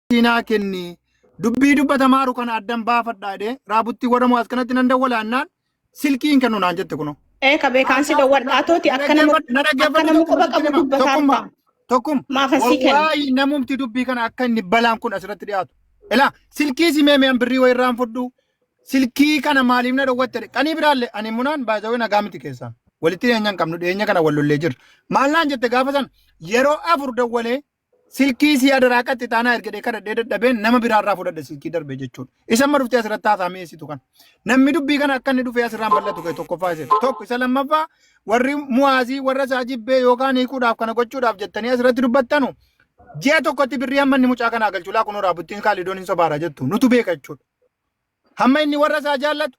deebii naa kenni dubbii dubbatamaaru kana addan baafadha jedhee raabuttii warra mo'aas kanatti nan dawwala annaan silkii hin kennu naan jette kunoo. Ee ka beekaan si dawwadha atooti akka nama Na akka dhaggeeffadhu nama tokkuma quba sitti qabu hima. dubbataa Tokkumma. ta'a. Tokkumma. Maafan sii kenna. Wallahi namumti dubbii kana akka inni balaan kun asirratti dhiyaatu. Ilaa silkii si meemee birrii wayii irraan fudhu. Silkii kana maaliif na dhowwatte? Qanii biraallee ani munaan baay'ee nagaa miti keessaan. Walitti dhiyeenya hin qabnu dhiyeenya kana wal lollee jirra. Maal naan jette gaafa sana yeroo afur dawwalee Silkii isii adaraa qaxxi taanaa ergadhee kadhadhee dadhabeen nama biraa irraa fudhadhe silkii darbee jechuudha. Isa amma dhuftee asirratti haasaa mi'eessitu kana. Namni dubbii kana akka inni dhufee asirraan bal'atu ka'e tokkoffaa isa tokko isa lammaffaa warri mu'aazii warra isaa jibbee yookaan hiikuudhaaf kana gochuudhaaf jettanii asirratti dubbattanu ji'a tokkotti birrii hamma inni mucaa kanaa galchuu laa kunoo raabuttiin kaalidoon hin sobaara jettu nutu beeka jechuudha. Hamma inni warra isaa jaallatu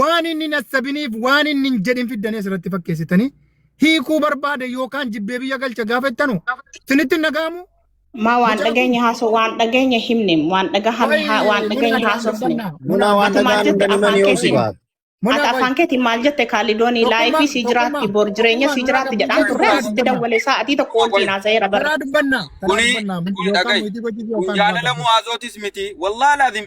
waan inni hin hassabiniif waan inni hin jedhin fiddanii asirratti fakkeessitanii hiikuu barbaade yookaan jibbee biyya galcha gaafa jettanu isinitti hin dhaga'amu. Maa waan dhageenye haasoo waan dhageenye himne waan dhagahame haa- waan dhageenye haasofne. Munaa waan Ati maal dhagaan jette hundanii afaan manii hoosii keetiin? baata. Ati afaan keetiin maal jette kaalidoonii laayifii sii jiraatti bor jireenya sii jiraatti jedhaan turre asitti dawwalee sa'atii tokko wajjin haasa'eera bara. Karaa dubbannaa. Karaa Kuni dubbannaa. kuni Yookaan dhaga'i. mootii gochii Kun yookaan jaalala mu'aazootis miti. Wallaahi laazim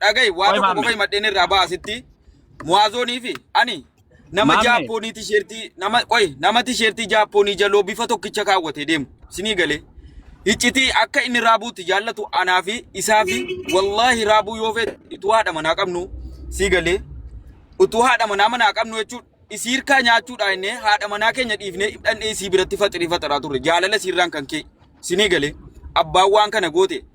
dhaga'i waa Qoy tokko qofa maammee. himadheen irraa ba'a asitti muwaazoonii fi ani nama Maammee. jaappoonii tisheertii nama qoy nama tisheertii jaappoonii jaloo bifa tokkicha kaawwatee deemu sinii galee hiccitii akka inni raabuutti jaallatu anaa fi isaa fi wallaahi raabuu yoo feete utuu haadha manaa qabnu sii galee utuu haadha manaa manaa qabnu jechuun isii hirkaa nyaachuudhaa innee haadha manaa keenya dhiifnee dhandhee isii biratti faxirii faxaraa turre jaalala isiirraan kan kee sinii galee abbaan waan kana goote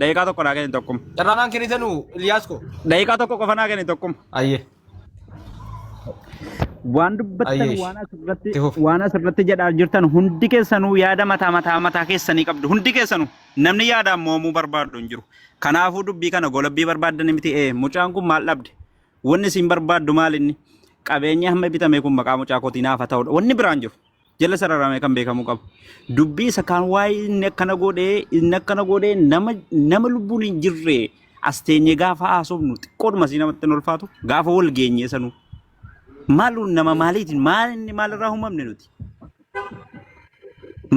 Daqiiqaa tokko naa kenni tokkuma. Carraa naan kennitanu Ilyaas koo. Daqiiqaa tokko qofa naa kenni tokkuma. Ayyee. Waan dubbattan Ayyeesh. waan asirratti Itti fufi. waan asirratti jedhaa jirtan hundi keessanuu yaada mataa mataa mataa keessanii qabdu hundi keessanuu namni yaadaan mo'amuu barbaadu hin jiru. Kanaafuu dubbii kana golabbii barbaaddan miti ee mucaan kun maal dhabde wanni isin barbaaddu maal inni qabeenyi hamma bitame kun maqaa mucaa kootii naaf haa ta'udha wanni biraan jiru jala sararamee kan beekamuu qabu. Dubbii isa kan waa'ee inni akkana godhee inni akkana godhee nama nama lubbuun hin jirre as teenyee gaafa haasofnu xiqqoodhuma si namatti hin ulfaatu gaafa wal geenyee sanuu. Maalu nama maaliitiin maal inni maalirraa uumamne nuti?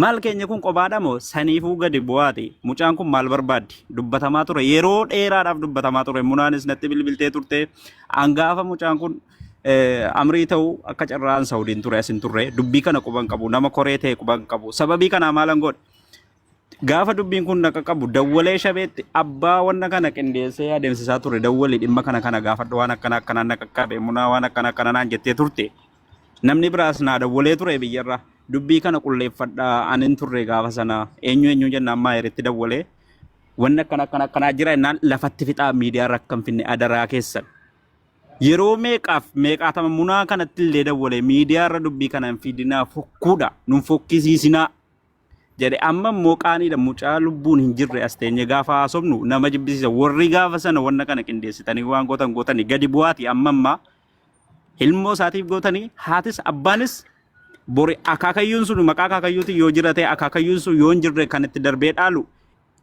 Maal keenya kun qobaadha moo saniifuu gadi bu'aati mucaan kun maal barbaaddi dubbatamaa ture yeroo dheeraadhaaf dubbatamaa ture munaanis natti bilbiltee turte hangaafa mucaan kun amrii ta'u akka carraan Saudiin ture asin turre dubbii kana quban qabu nama koree ta'e quban qabu sababii kanaa maalan godhe gaafa dubbiin kun naqa qabu dawwalee shabeetti abbaa wanna kana qindeessee adeemsisaa ture dawwali dhimma kana kana gaafadhu waan akkana akkanaan naqa qabe munaa waan akkana akkana naan jettee turte namni biraas naa dawwalee ture biyyarra dubbii kana qulleeffadha anin turre gaafa sana eenyu eenyu jennaan maa irratti dawwalee wanna akkana akkana akkanaa jira jennaan lafatti fixaa miidiyaarra akka hin finne adaraa keessan Yeroo meeqaaf meeqaatama munaa kanatti illee dawwalee miidiyaa irra dubbii kana hin fiidinaa fokkuudha nun fokkisiisinaa jedhe amma immoo qaaniidha mucaa lubbuun hin jirre as teenye gaafa haasofnu nama jibbisiisa warri gaafa sana wanna kana qindeessitanii waan gootan gootanii gadi bu'aati amma ammaa ilmoo isaatiif gootanii haatis abbaanis bori akaakayyuun sun maqaa akaakayyuutiin yoo jiratee akaakayyuun sun yoo hin jirre kan itti darbee dhaalu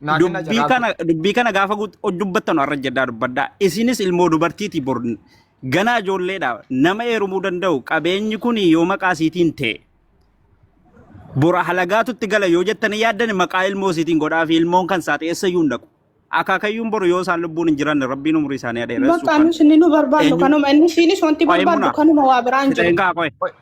Naa kenna dubbii carraa kana dubbii kana gaafa guut- dubbattan har'a jedhaa dubbadhaa isinis ilmoo dubartiiti bor ganaa ijoolleedha nama eerumuu danda'u qabeenyi kun yoo maqaa isiitiin ta'e bora halagaatutti gala yoo jettanii yaaddan maqaa ilmoo isiitiin godhaa fi ilmoon kan isaati eessayyuu hin dhaqu akaakayyuun boru yoo isaan lubbuun hin jiranne rabbiin umurii isaanii adeeressu Bakka kan nus inni nu barbaannu eenyu kanuma inni siinis wanti qo'ee barbaaddu muna kanuma waa biraan hin jiru. fixeen kaa qo'e Qoy-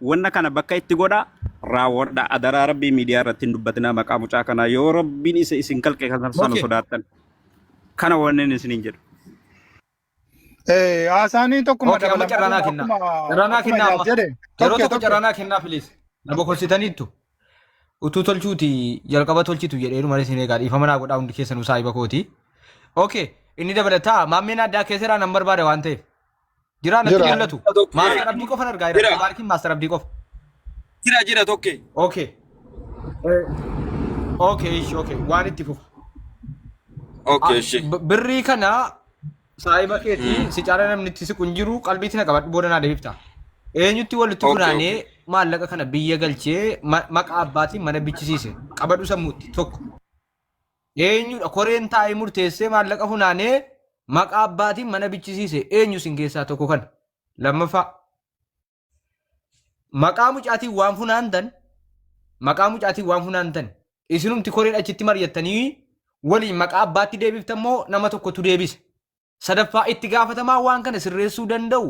Wanna kana bakka itti godha raawwadha adaraa rabbii miidiyaa irratti hin dubbatinaa maqaa mucaa kanaa yoo rabbiin isa isin kalqe kan sanu Okay. sodaattan kana wannen isiniin jedhu. Eh, haasaanii tokkuma Okay, amma dabalama carraa naa kennaa. akkuma Carraa naa akkuma kennaa Iyaas amma. jedhe Yeroo tokko tokko tokko carraa naa kennaa please. Na bokorsitaniittu. Utuu tolchuuti jalqaba tolchitu jedheeru malee isin eegaa dhiifama naa godhaa hundi keessanuu saahiba kooti. Okay, inni dabalataa maammeen addaa keesseraa nan barbaada waan ta'eef. Jiraa natti Jira. mul'atu. Tokko. Maastar Abdii qofan argaa jira. Jira. Mubaarikiin Maastar Abdii qofa. Jira jira tokkee. Okay. Okay, ishi, okay. Waan itti fufa. Okay, Ah, ishee. b- Birrii kana saahiba keetii Mm. si caala namni itti siqu hin jiru qalbiitti na qabadhu booda naa deebifta. Eenyutti walitti Okay, funaanee maallaqa kana biyya galchee ma- maqaa abbaatiin mana bichisiise qabadhu sammuutti tokko. Eenyudha koreen taa'ee murteessee maallaqa funaanee maqaa abbaatiin mana bichisiise eenyu isin keessaa tokko kana. Lammaffaa maqaa mucaatiin waan funaantan maqaa mucaatiin waan funaantan isinumti koreen achitti mari'attanii waliin maqaa abbaatti deebiftan moo nama tokkotu deebisa. Sadaffaa itti gaafatamaa waan kana sirreessuu danda'u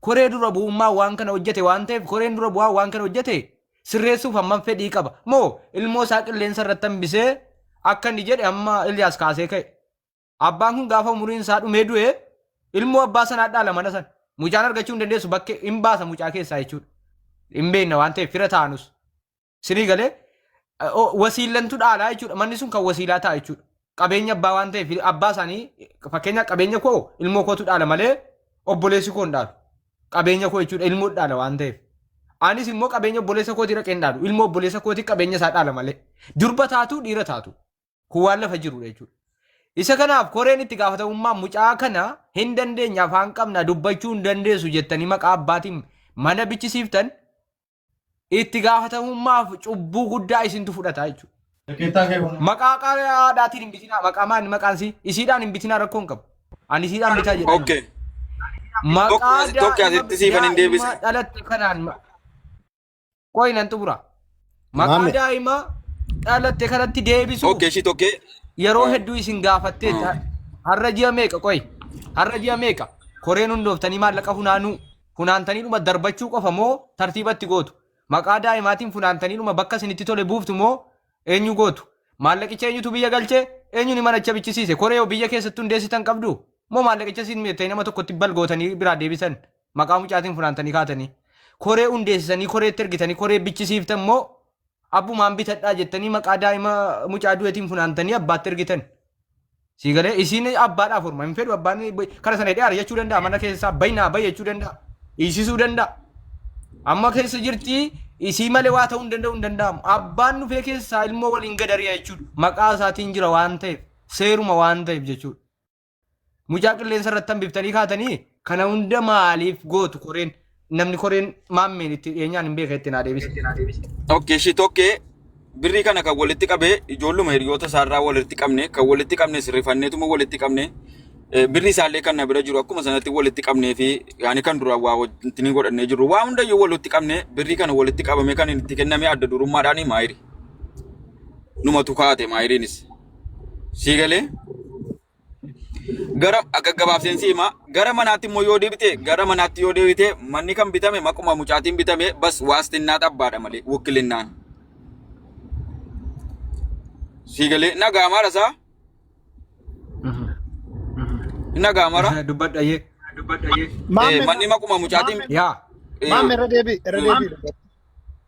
koree dura bu'ummaa waan kana hojjete waan ta'eef koreen dura bu'aa waan kana hojjete sirreessuuf hammam fedhii qaba moo ilmoo isaa qilleensa irratti hambisee akka inni jedhe amma Ilyaas kaasee ka'e. Abbaan kun gaafa umuriin isaa dhumee du'e ilmoo abbaa sanaa dhaala mana sana. Mucaan argachuu hin dandeessu bakkee hin baasa mucaa keessaa jechuudha. Hin beekna waan ta'eef fira taanus. Sinii galee eh, o- wasiillantu dhaalaa jechuudha. Manni sun kan wasiilaa ta'a jechuudha. Qabeenya abbaa waan ta'eef abbaa isaanii fakkeenyaaf qabeenya koo ilmoo kootu dhaala malee obboleessi koo hin dhaalu. Qabeenya koo jechuudha ilmoo dhaala waan ta'eef. Anis immoo qabeenya obboleessa kootii dhaqee hin dhaalu. Ilmoo obboleessa kootii qabeenya isaa dhaala malee. Durba taatu dhiira taatu. Kun waan lafa jirudha jechuudha. Isa kanaaf koreen itti gaafatamummaa mucaa kana hin dandeenya afaan qabna dubbachuu hin dandeessu jettanii maqaa abbaatiin mana bichisiiftan itti gaafatamummaaf cubbuu guddaa isintu fudhata jechuudha. Rakkeettaa kee kun. Maqaa qaadaatiin hin bitinaa maqaa maal maqaan isii isiidhaan hin bitinaa rakkoo hin qabu. Ani isiidhaan bitaa jedha. Okay. Maqaa Tokko as- tokko daa'ima asitti siifan hin deebise. daa'ima dhalatte kanaan ma- qoyi nan xumura. Maqaa Maame. daa'ima dhalatte kanatti deebisuuf Okay, ishii tokkee. yeroo hedduu isin gaafattee ta- har'a ji'a meeqa qoyi har'a ji'a meeqa koreen hundooftanii maallaqa funaanuu funaantaniidhuma darbachuu qofa moo tartiibatti gootu? Maqaa daa'imaatiin funaantaniidhuma bakka isinitti tole buuftu moo eenyu gootu? Maallaqicha eenyutu biyya galche? Eenyuni manacha bichisiise? Koree yoo biyya keessatti hundeessitan qabdu? Moo maallaqicha isin mijettanii nama tokkotti bal gootanii biraa deebisan? Maqaa mucaatiin funaantanii kaatanii. Koree hundeessisanii koreetti ergitanii koree bichisiiftan moo Abbumaan bitadhaa jettanii maqaa daa'ima mucaa du'eetiin funaantanii abbaatti ergitan. Sii galee isiin abbaadhaaf horma hin fedhu abbaan kara sana hidhee ari'achuu danda'a mana keessaa bayi naa bayi jechuu danda'a. Dhiisisuu danda'a. Amma keessa jirti isii malee waa ta'uu hin danda'u hin danda'amu. Abbaan dhufee keessaa ilmoo waliin gad ari'a jechuudha. Maqaa isaatiin jira waan ta'eef seeruma waan ta'eef jechuudha. Mucaa qilleensa irratti hambiftanii kaatanii kana hunda maaliif gootu koreen namni koreen maammeen itti dhiyeenyaan hin beeka itti naa deebise. Okkee ishii tokkee birrii kana kan walitti qabee ijoolluma hiriyoota isaarraa walitti qabne kan walitti qabnes rifanneetuma walitti qabne eh, birrii isaallee kan na bira jiru akkuma sanatti walitti qabnee fi yaani kan duraan waa wajjin ni godhannee jirru waa hundayyuu walitti qabne birrii kana walitti qabame kan itti kenname adda durummaadhaan maayiri numatu kaate maayiriinis. Sii galee gara akka gabaabseen si hima gara manaatti immoo yoo deebite gara manaatti yoo deebite manni kan bitame maquma mucaatiin bitame bas waastinnaa xabbaadha malee wukilinnaan. Sii galee nagaa maara isaa nagaa maara dubbadha yee Eh, manni maquma mucaatiin yaa eh, Maam irra deebi irra deebi.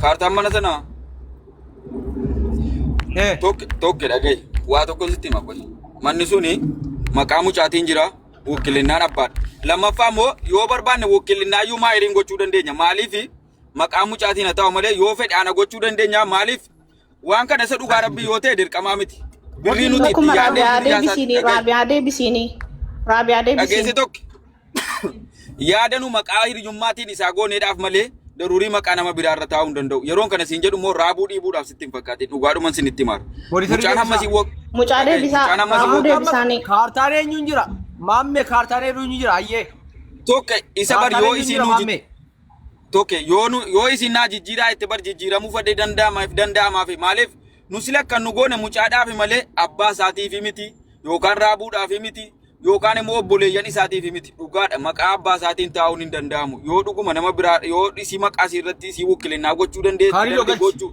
Kaartaan mana sanaa Eh, tokko tokko dhagaye waa tokko sitti hima qoy. Manni suni maqaa mucaatiin jira wukkilinnaan abbaadha. Lammaffaa immoo yoo barbaanne wukkilinnaa iyyuu maayiriin gochuu dandeenya. Maaliif maqaa mucaatiin haa ta'u malee yoo fedhe ana gochuu dandeenya. Maaliif Waan kana isa dhugaa rabbii yoo ta'e dirqamaa miti. Birrii nuti itti Dhuguma yaadnee raabiyaa birrii haasaa deebisiinii dhageessi. raabiyaa deebisiinii raabiyaa Dhageessi deebisiinii. tokko yaada nu maqaa hiriyummaatiin isaa gooneedhaaf malee daruurii maqaa nama biraa irra taa'uu hin danda'u. Yeroon kana siin jedhu immoo raabuu dhiibuudhaaf sitti hin fakkaatin dhugaadhuman sin itti maara. Poolisarii Mucaan hamma deebisaa. siin wag- Mucaa Dhaga'i, deebisaa, mucaan hamma siin raabuu wag- deebisaa. deebisaanii. Kaartaan eenyuun jira? Maammee kaartaan eenyuun jira? Ayyee. tokko isa bar Kaartaan yoo eenyuun isiin jira nuti maammee? Toke yoo nu yoo isin naa jijjiiraa itti bar jijjiiramuu fadhee danda'ama if danda'amaa fi maaliif nu sila kan nu goone mucaadhaaf malee abbaa isaatiif miti yookaan raabuudhaaf miti yookaan immoo obboleeyyan isaatiif miti dhugaadha maqaa abbaa isaatiin taa'uun hin danda'amu yoo dhuguma nama biraa yoo si maqaa si irratti si wukkilinaa gochuu Kaanii dandeetti yoo galchi. gochuu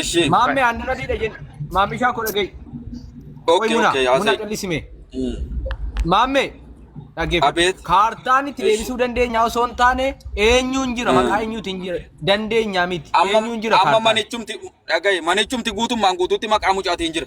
Ishii. Maammee aannan adiidha jenna. Maammishaa koo dhagahi. Qoy Okay, muna, okay, muna haasa'e. callisime. Mm. Maammee dhaggeeffadhu. Abeet. Kaartaan itti Eesh. deebisuu dandeenyaa osoo hin taane eenyuun jira maqaa eenyuutiin jira dandeenyaa miti. Amma Eenyuun jira amma kaartaan. manichumti dhagaye manichumti guutummaan guutuutti maqaa mucaatiin jira.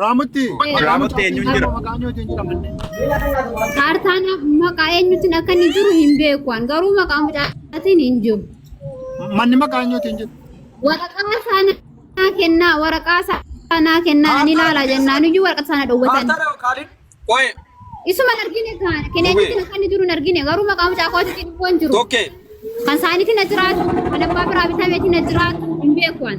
Raamutti. Raamutti eenyuun jira? Maqaan yoo ittiin jedhamanne. Kaartaan maqaa eenyutiin akka inni jiru hin beeku an garuu maqaa mucaatiin hin jiru. Manni maqaan yoo ittiin jedhu. Waraqaa saanaa kennaa waraqaa saanaa kennaa ani ilaalaa jennaan iyyuu waraqaa saana dhowwatan. Qoye Isuma hin argine kaan kan eenyutiin akka inni jiru hin argine garuu maqaa mucaa kootiitiin immoo hin jiru. tokke Kan saaniitiin na jiraatu kan abbaa biraa bitameetiin na jiraatu hin beeku an.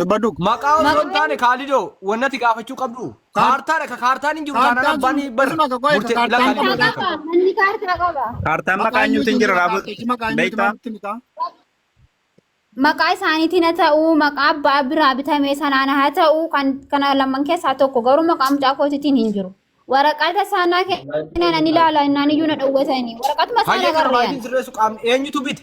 Dubbadhu. Maqaa osoo hin Maqaa- taane kaalidoo wannati gaafachuu qabdu. Kaartaadha ka kaartaan hin jiru taanaan abbaan hin bar. Kaartaan sun- Murtee kaartaan lafa sun- Kaartaa qaba. Manni kaartaa qaba. Kaartaan maqaa eenyuutu hin jira raaboo beektaa? Maqaa isaaniitiin haa ta'u, maqaa abbaa biraa bitame sanaan haa ta'u, kan kana lamaan keessaa tokko garuu maqaa mucaa kootiitiin hin jiru. Waraqata saanaa kennan ani ilaala innaan iyyuu na dhowwatanii. Waraqatuma saanaa Hayyee kana garreen. baay'een sirreessu qaamni eenyutu bite?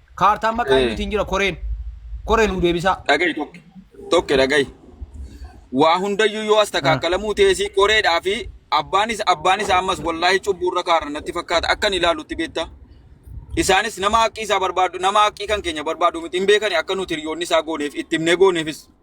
Kaartaan maqaa Eh. eenyuutiin jira koreen. Koree nuu deebisaa. Dhagahi tokko. Tokko dhagahi. Waa hundayyuu yoo as takaakkalamuu teesii qoreedhaa fi abbaanis abbaanis ammas wallaahi cubbuu irra kaarra natti fakkaata akkan ilaalutti beektaa. Isaanis nama haqqii isaa barbaadu nama haqqii kan keenya barbaadu miti hin beekani akka nuti hiriyoonni isaa gooneef itti himnee gooneefis.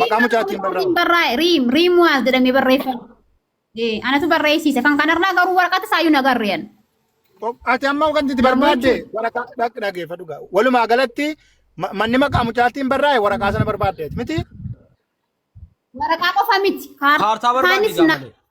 Maqaa mucaatiin barraa'u. barraa'e riim riim waas jedhamee barreeffame. Ee, Anatu barreessiise kan kanarraa garuu waraqata saayyuu nagarreen. Ati amma kan itti barbaadde waraqaa dhaq dhageeffa dhugaa. Walumaa galatti ma- manni maqaa mucaatiin barraa'e waraqaa sana barbaaddeet miti. Waraqaa qofa miti. Kaartaa barbaaddi Kaartaanis na- gaafate.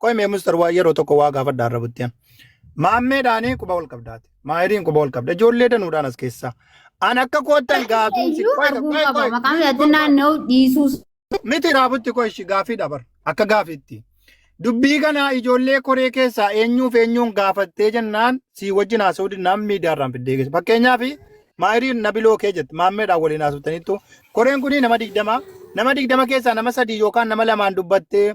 Qoy mee mustar waa yeroo tokko waa gaafadha irra buttiyan. Maammeedhaanii quba ol qabdaati. Maayiriin quba ol qabda. Ijoollee danuudhaan as keessaa. An akka koottan gaafiin si Iyyuu qoy arguu qoy qaba. qoy. Maqaan Miti yaadni qoy qoy. naanna'u dhiisuus. Miti raabutti qoy ishi gaafii dabar. Akka gaafiitti. Dubbii kana ijoollee koree keessaa eenyuuf eenyuun gaafattee jennaan sii wajjin haasa'uu dinnaan miidiyaarraan fiddee geessa. Fakkeenyaaf maayiriin nabiloo kee jette maammeedhaan waliin haasoftanittu koreen kun nama digdama nama digdama keessaa nama sadii yookaan nama lamaan dubbattee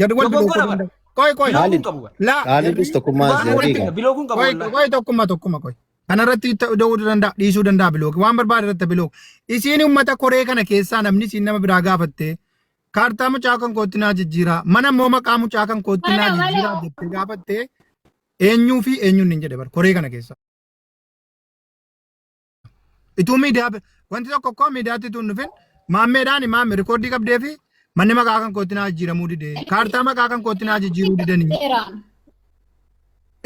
Gad wal Dogoggora bilookuu bara. danda'a. Qoy qoy. Bilooguun Xaalib. qabu bara. Laa. Xaalibis jarri tokkummaa Dhugaa Dhugaa walitti Zariiga. bilooguun qabu Qoy qoy wallahi. qoy tokkumma tokkumma qoy. Kanarratti itti da'uu danda'a dhiisuu danda'a bilooki waan barbaade irratti bilooki. Isiin uummata koree kana keessaa namni isiin nama biraa gaafatte kaartaa mucaa kan kootti naa jijjiiraa mana immoo maqaa mucaa kan kootti naa Wala jijjiiraa wala. jettee gaafatte eenyuu fi eenyuun hin jedhe bara koree kana keessaa. Ituu miidiyaa wanti tokko koo miidiyaatti tuun dhufin maammeedhaan maamme rikoordii qabdee fi manni maqaa kan kootti naa jijjiiramuu dide kaartaa maqaa kan kootti naa jijjiiruu didanii Seeraan.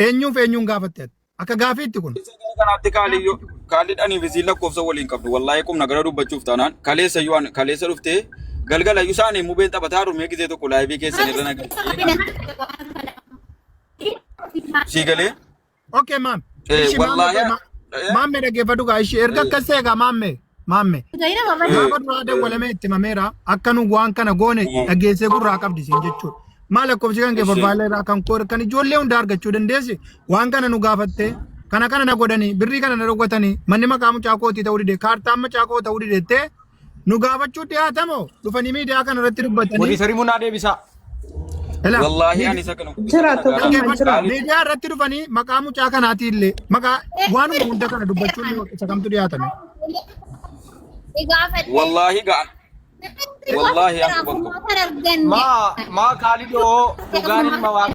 eenyuuf eenyuun gaafatte ati? akka gaafiitti kun kanaatti kaaliyyoo kaalidhanii fi siin lakkoofsa waliin qabdu wallaahee qubna gara dubbachuuf taanaan kaleessa yoo an- kaleessa dhuftee galgala iyyuu isaanii mubeen taphataa rumee gisee tokko laayivii keessan irra nagaa sii galee Okay maam. Eh, Ishi maamme wallaahi, ma- eh. maamme dhaggeeffadhu gaa ishi erga akkas ta'e gaa maamme maamme. Gaina mama Eh. Gaafa duraa dawwalamee itti mameera akka nu waan kana goone Eh. dhageessee gurraa qabdi siin jechuudha. Maal lakkoofsi kan kee Ishee. barbaadee irraa kan koo kan ijoollee hundaa argachuu dandeessi waan kana nu gaafattee kana kana na godhanii birrii kana na dhowwatanii manni maqaa mucaa kootii ta'uu dide kaartaan mucaa koo ta'uu didettee nu gaafachuu dhiyaatamo dhufanii miidiyaa kana irratti dubbatanii Warri sarii munaa deebisaa. Ilaa, Wallaahi miidi- ani isa kana. Jira tokko Dhaggeeffadhaa. amma jira. Maaliif? miidiyaa irratti dhufanii maqaa mucaa kanaatii illee maqaa waanuma hunda kana dubbachuun yoo isa kamtu dhiyaatame Wallaahi ga'a. Wallaahi an quban qabu. Maa maa kaalidoo dhugaan ilma waaqa.